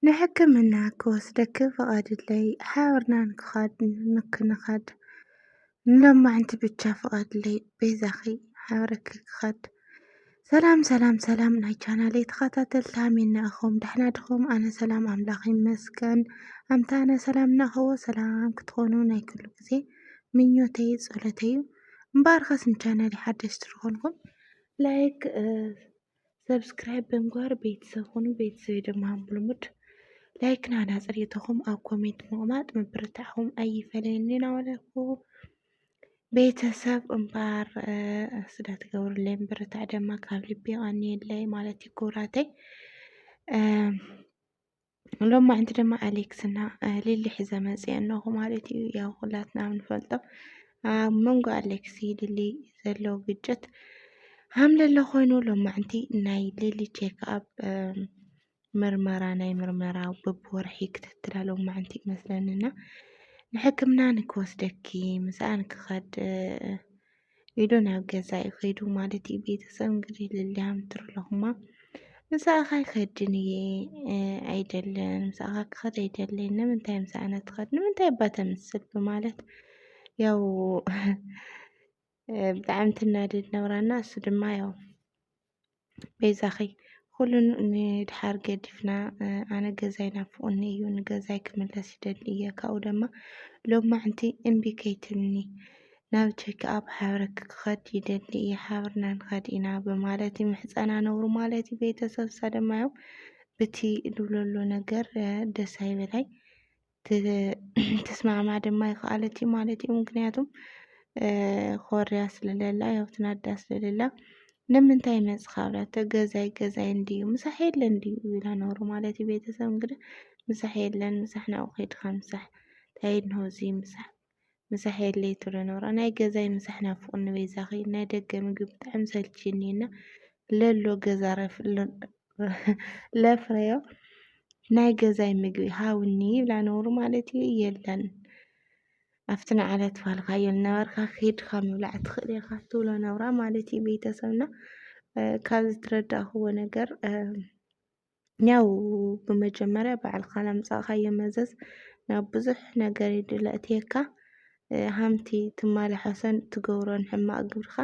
ንሕክምና ክወስደኪ ፍቓድለይ ሓብርና ንክኻድ ንክንኻድ ንሎማዕንቲ ብቻ ፍቓድለይ በይዛኺ ሓብረኪ ክኻድ ሰላም ሰላም ሰላም ናይ ቻናለይ ተኸታተልቲ ሃሜና እኹም ዳሕና ድኹም ኣነ ሰላም ኣምላኽ ይመስገን ኣምታ ኣነ ሰላም እናኸዎ ሰላም ክትኾኑ ናይ ኩሉ ግዜ ምኞተይ ጸሎተይ እዩ እምበኣር ኸስ ንቻናለይ ሓደሽቲ ዝኾንኩም ላይክ ሰብስክራይብ ብምግባር ቤተሰብ ኹኑ ቤተሰብ የደምሃም ብልሙድ ላይክ ናህና ፅሬተኹም ኣብ ኮሜንት ምቕማጥ ምብርታዕኹም ኣይፈለየኒ ናበለኩ ቤተሰብ እምበር ስለ ትገብሩለይ ምብርታዕ ደማ ካብ ልቢ ይቐንየለይ ማለት እዩ ክብራተይ ሎማዕንቲ ድማ ኣሌክስ እና ሊሊ ሒዘ መፅአ እነኹ ማለት እዩ። ያው ኩላትና ንፈልጦ ኣብ መንጎ ኣሌክስ ሊሊ ዘሎ ግጭት ሃምለሎ ኮይኑ ሎማዕንቲ ናይ ሊሊ ቼክ ኣብ ምርመራ ናይ ምርመራ በብወርሒ ክትትላ ሎማዕንቲ ይመስለኒ እና ንሕክምና ንክወስደኪ ምስኣ ንክኸድ ኢሉ ናብ ገዛ እዩ ከይዱ ማለት እዩ። ቤተሰብ እንግዲህ ልልያ ምትርለኹማ ምሳኻ ይኸድን እየ ኣይደለን ምሳኻ ክኸድ ኣይደለን ንምንታይ ምሳእነ ትኸድ ንምንታይ እባ ተምስል ብማለት ያው ብጣዕሚ ትናደድ ነብራና እሱ ድማ ያው በይዛኺ ኹሉ ንድሓር ገዲፍና ኣነ ገዛይ ናፍቑኒ እዩ ንገዛይ ክምለስ ይደሊ እየ ካብኡ ደማ ሎማዕንቲ እምቢ ከይትብልኒ ናብ ቼክኣፕ ሓብረኪ ክኸድ ይደሊ እየ ሓብርና ንኸድ ኢና ብማለት ይምሕፀና ነብሩ ማለት እዩ ቤተሰብ ሳደማዮም ብቲ ልብለሎ ነገር ደስ ኣይበላይ ትስማዕማዕ ድማ ይክኣለት እዩ ማለት እዩ ምክንያቱም ኮርያ ስለለላ ያው ትናዳ ስለለላ ንምንታይ መጽኻ ብላቶ ገዛይ ገዛይ እንድዩ ምሳሕ የለ እንድዩ ይብላ ነሩ ማለት እዩ ቤተሰብ እንግዲህ ምሳሕ የለን ምሳሕ ናብኡ ከይድካ ምሳሕ ታይድ ነው እዚ ምሳሕ ምሳሕ የድለይ ትብሎ ነበራ ናይ ገዛይ ምሳሕ ናፍቁኒ በይዛኺ ናይ ደገ ምግቢ ብጣዕሚ ሰልቺኒ እና ለሎ ገዛ ለፍረዮ ናይ ገዛይ ምግቢ ሃውኒ ይብላ ነውሩ ማለት እዩ የለን ኣብቲ ንዓለ ትፋልካዮ ነበርካ ኪድካ ምብላዕ ትኽእል ኢኻ ትብሎ ነብራ ማለት እዩ ቤተሰብና ካብዚ ትረዳእክዎ ነገር ያው ብመጀመርያ ባዕልካ ናምጻእካዮ መዘዝ ናብ ብዙሕ ነገር እዩ ድለእትየካ ሃምቲ ትማላሐሶን ትገብሮን ሕማቅ ግብርካ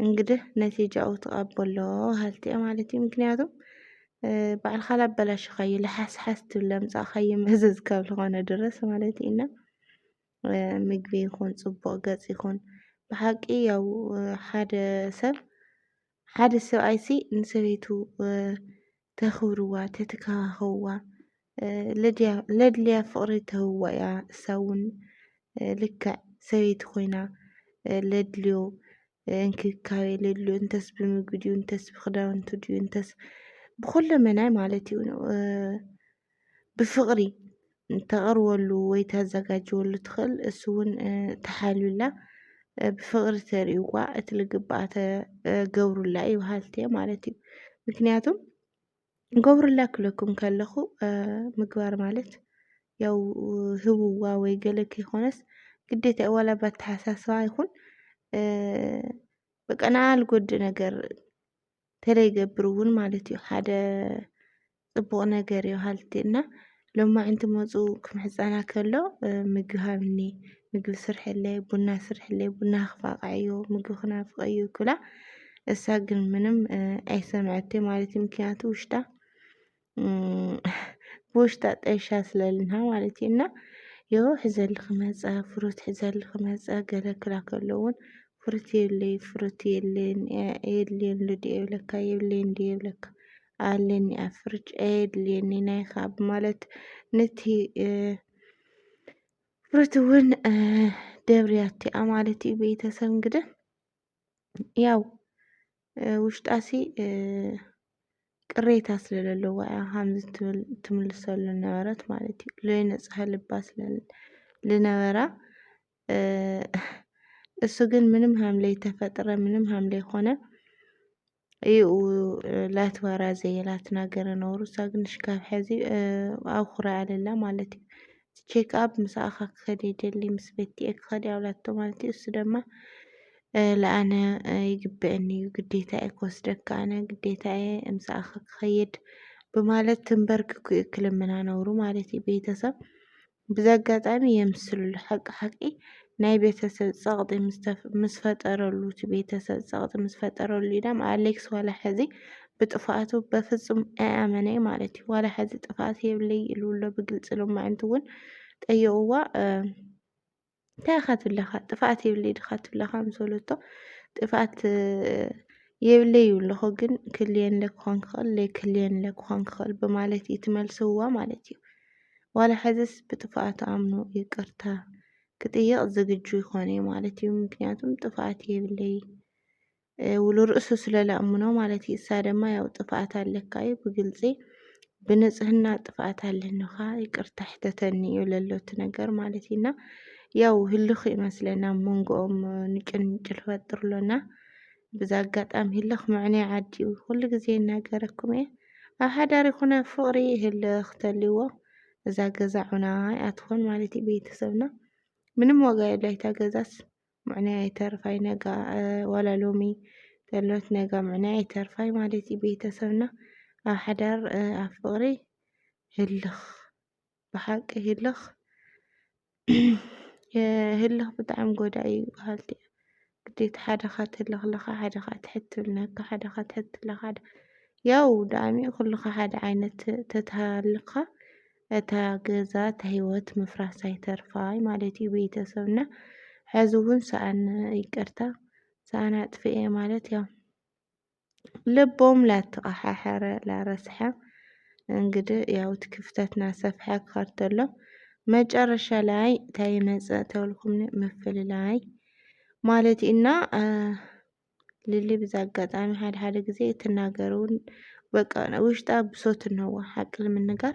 እንግድህ ነቲጃኡ ትቀበሎ ሃልቲ እየ ማለት እዩ ምክንያቱም ባዕልካ ላበላሽካዮ ልሓስሓስ ትብል ለምጻእካዮ መዘዝ ካብ ዝኾነ ድረስ ማለት እዩ እና ምግቢ ይኹን ጽቡቅ ገጽ ይኹን ብሓቂ ያው ሓደ ሰብ ሓደ ሰብኣይሲ ንሰበይቱ ተኽብርዋ፣ ተትከባኸብዋ፣ ለድልያ ፍቕሪ ተህብዋ እያ። እሳ እውን ልክዕ ሰበይቲ ኮይና ለድልዮ እንክብካቤ ለድልዮ እንተስ ብምግቢ ድዩ እንተስ ብክዳውንቱ ድዩ እንተስ ብኹለመናይ ማለት እዩ ብፍቕሪ ተቕርበሉ ወይ ተዘጋጅወሉ ትኽእል እሱ እውን ተሓልዩላ ብፍቕሪ ተርእይዋ እቲ ልግብኣ ተገብሩላ እዩ በሃልቲ ማለት እዩ ምክንያቱም ገብሩላ ክለኩም ከለኹ ምግባር ማለት ያው ህብዋ ወይ ገለ ከይኮነስ ግዴታ እዩ ዋላ ባተሓሳስባ ይኹን በቃ ንኣ ልጎድእ ነገር ተለይገብር እውን ማለት እዩ ሓደ ፅቡቕ ነገር እዩ ሃልቲ እና ሎማዕንቲ መፁ ክምሕፀና ከሎ ምግቢ ሃብኒ ምግቢ ስርሐለይ ቡና ስርሐለይ ቡና ክፋቕዐዮ ምግቢ ክናፍቐዮ ክብላ እሳ ግን ምንም ኣይሰምዐቴ ማለት እዩ ምክንያቱ ውሽጣ ብውሽጣ ጠይሻ ስለልና ማለት እዩ እና የው ሕዘሊ ክመፀ ፍሩት ሕዘሊ ክመፀ ገለ ክላ ከለውን ፍሩት የብለይ ፍሩት የለን የድልየን ሉድ የብለካ የብለየን ድ የብለካ ኣለኒ ኣብ ፍርጭ ኣየድልየኒ ናይ ካብ ማለት ነቲ ፍሩት እውን ደብርያቲኣ ማለት እዩ ቤተሰብ እንግዲህ ያው ውሽጣሲ ቅሬታ ስለ ለለዎ እያ ሃምዚ ትብል ትምልሰሉ ነበረት ማለት እዩ። ለይነጽሀ ልባ ስለ ልነበራ እሱ ግን ምንም ሃምለይ ተፈጥረ ምንም ሃምለይ ኮነ እዩ ላትባራ ዘየላት ናገረ ነሩ እሳ ግንሽ ካብ ሕዚ ኣውኹራ ኣለላ ማለት እዩ ቼክ ኣብ ምስ ኣኻ ክኸደ ደሊ ምስ ቤትየ ክኸደ ኣብላቶ ማለት እዩ እሱ ደማ ለኣነ ይግብአኒ እዩ ግዴታ እየ ክወስደካ ኣነ ግዴታ እየ ምስ ኣኻ ክኸየድ ብማለት ትንበርክ ክልምና ነሩ ማለት እዩ ቤተሰብ ብዘጋጣሚ የምስልሉ ሓቂ ሓቂ ናይ ቤተሰብ ጸቕጢ ምስ ፈጠረሉ እቲ ቤተሰብ ጸቕጢ ምስ ፈጠረሉ ኢዳም ኣሌክስ ዋላ ሕዚ ብጥፍኣቱ በፍጹም ኣይኣመነይ ማለት እዩ። ዋላ ሕዚ ጥፍኣት የብለይ ኢሉሎ ብግልጺ ሎማዕንቲ እውን ጠየቕዋ እንታይ ኢኻ ትብለኻ ጥፍኣት የብለይ ዲኻ ትብለኻ ምስ በለቶ ጥፍኣት የብለይ ይብሎ ግን ክልየለ ክኾን ክኽእል ዘይክልየለ ክኾን ክኽእል ብማለት እዩ ትመልስዋ ማለት እዩ። ዋላ ሕዝስ ብጥፍኣቱ ኣምኑ ይቅርታ ክጥይቕ ዝግጁ ይኾን እዩ ማለት እዩ። ምክንያቱም ጥፍኣት የብለይ ውሉ ርእሱ ስለ ላእምኖ ማለት እዩ እሳ ደማ ያው ጥፍኣት ኣለካ እዩ ብግልፂ ብንፅህና ጥፍኣት ኣለንኻ ይቅርታ ሕተተኒ እዩ ለሎ እቲ ነገር ማለት እዩ እና ያው ህልኽ ይመስለና ኣብ መንጎኦም ንጭንጭል ፈጥር ኣሎና ብዛ ኣጋጣሚ ህልኽ ምዕነይ ዓዲ እዩ ኩሉ ግዜ እናገረኩም እየ ኣብ ሓዳር ይኹነ ፍቕሪ ህልኽ ተልዎ እዛ ገዛ ዑና ኣይኣትኾን ማለት እዩ ቤተሰብና ምንም ዋጋ የብላ እታ ገዛስ ምዕናይ ኣይተርፋይ ነጋ ዋላ ሎሚ ተሎት ነጋ ምዕናይ ኣይተርፋይ ማለት እዩ ቤተሰብና ኣብ ሓዳር ኣብ ፍቕሪ ህልኽ ብሓቂ ህልኽ ህልኽ ብጣዕሚ ጎዳኢ እዩ በሃልቲ እያ ግዴታ ሓደ ካትህልኽ ኣለኻ ሓደ ካዓ ትሕትብል ነካ ሓደ ካዓ ትሕትብለካ ሓደ ያው ዳኣሚ ኩልኻ ሓደ ዓይነት ተትሃልኻ እታ ገዛ ተህይወት ምፍራሳ ኣይተርፋይ ማለት እዩ ቤተሰብ እና ሕዚ እውን ሰኣን ይቅርታ ሰኣን ኣጥፍኤ ማለት ያው ልቦም ላተቀሓሐረ ላረስሐ እንግዲህ ያው እቲ ክፍተት ናሰፍሐ ክኸድ ተሎ መጨረሻ ላይ እንታይ ይመፅእ ተብልኩም ምፍልላይ ማለት እና ሊሊ ብዚ ኣጋጣሚ ሓደ ሓደ ግዜ እትናገር እውን በቃ ናይ ውሽጣ ብሶት እንሆዋ ሓቂ ንምንጋር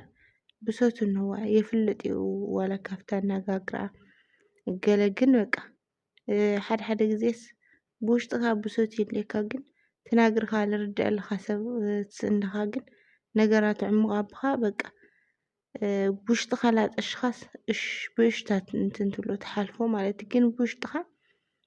ብሶት እንሆዋ የፍልጥ እዩ ዋላ ካብቲ ኣነጋግርኣ ገለ ግን በቃ ሓደ ሓደ ግዜስ ብውሽጥኻ ብሶት ይህልወካ ግን ትናግርኻ ልርደኣልኻ ሰብ ትስእንኻ ግን ነገራት ዕሙቕ ኣብኻ በቃ ብውሽጥኻ ላጠሽኻስ እሽ ብእሽታት እንትን ትብሎ ትሓልፎ ማለት እዩ ግን ብውሽጥኻ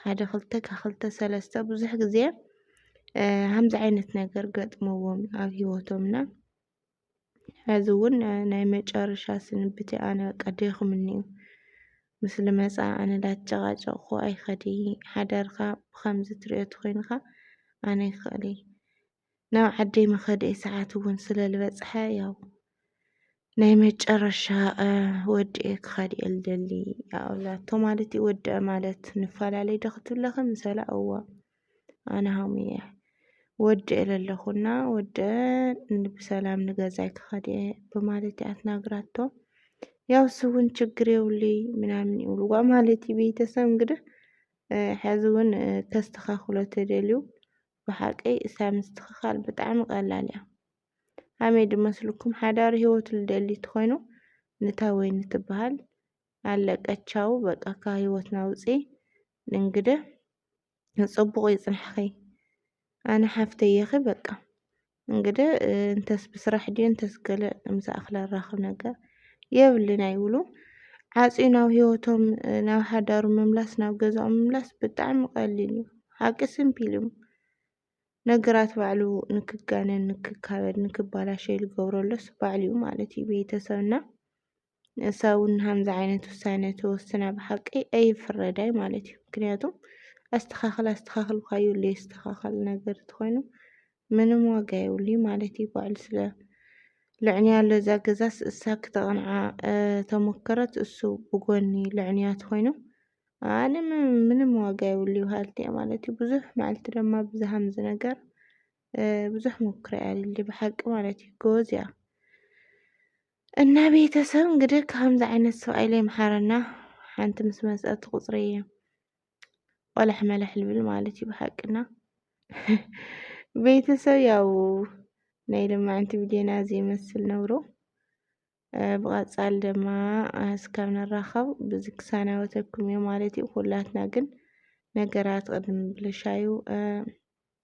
ሓደ ክልተ ካብ ክልተ ሰለስተ ብዙሕ ግዜ ከምዚ ዓይነት ነገር ገጥምዎም ኣብ ሂወቶም እና ሕዚ እውን ናይ መጨረሻ ስንብተይ ኣነ በቃ ደኺሙኒ እዩ ምስ ልመፃ ኣነ ዳተጨቃጨቅኹ ኣይከድይ ሓዳርካ ብከምዚ ትሪኦ ተኾይንካ ኣነ ኣይክእልይ ናብ ዓደይ መኸደይ ሰዓት እውን ስለ ዝበፅሐ ያው ናይ መጨረሻ ወዲኤ ክኸድ እየ ልደሊ ኣብላቶ ማለት እዩ ወድአ ማለት ንፈላለይ ዶ ክትብለኺ ምሰለ እዋ ኣነ ሃሙ እየ ወድኤ ለለኹና ወድአ ብሰላም ንገዛይ ክኸድ እየ ብማለት እያ ትናግራቶ ያው እሱ እውን ችግር የብሉይ ምናምን ይብልዋ ማለት እዩ ቤተሰብ እንግዲህ ሕዚ እውን ከስተኻኽሎ ተደልዩ ብሓቂ እሳ ምስትክካል ብጣዕሚ ቀላል እያ ሃመይ ድመስሉኩም ሓዳሪ ሂወቱ ልደሊ ትኮይኑ ንታ ወይኒ ትባሃል ኣለቀ ቻው በቃ ካብ ሂወትና ውፂ ንእንግደ ንፅቡቅ ይፅናሕኪ ኣነ ሓፍተይ እየኪ በቃ እንግደ እንተስ ብስራሕ ድዩ እንተስ ገለ ምሳኣኽለ ኣራኽብ ነገር የብልን ኣይብሉ ዓፅዩ ናብ ህይወቶም ናብ ሓዳሩ ምምላስ ናብ ገዛኦም ምምላስ ብጣዕሚ ቀሊል እዩ ሓቂ ስምፒል እዩ ነገራት ባዕሉ ንክጋነን ንክካበድ ንክባላሸ ልገብረሎስ ባዕሉ እዩ ማለት እዩ ቤተሰብና ንሳ እውን ንሃምዚ ዓይነት ውሳነ ተወስና ብሓቂ ኣይፍረዳይ ማለት እዩ። ምክንያቱም ኣስተካክል ኣስተካክል እኳ ይብሉ የስተካከል ነገር ተኮይኑ ምንም ዋጋ የብሉ ማለት እዩ። ባዕሉ ስለ ልዕንያ ኣሎ እዛ ገዛስ እሳ ክተቕንዓ ተሞከረት እሱ ብጎኒ ልዕንያ ተኮይኑ ኣነ ምንም ዋጋ የብሉ ይበሃልቲ እየ ማለት እዩ። ብዙሕ መዓልቲ ድማ ብዚ ሃምዚ ነገር ብዙሕ ሞክረ እያ ብሓቂ ማለት እዩ። ጎበዝ እያ። እና ቤተሰብ እንግዲህ ከምዚ ዓይነት ሰብኣይ ላይ መሓረና ሓንቲ ምስ መፀት ቁፅሪ እየ ቆላሕ መላሕ ልብል ማለት እዩ ብሓቅና ቤተሰብ ያው ናይ ልማዕንቲ ቪድዮና እዚ ይመስል ነብሮ ብቐፃል ድማ እስካብ ንራኸብ ብዚ ክሳናወተኩም እዩ ማለት እዩ ኩላትና ግን ነገራት ቅድሚ ብልሻዩ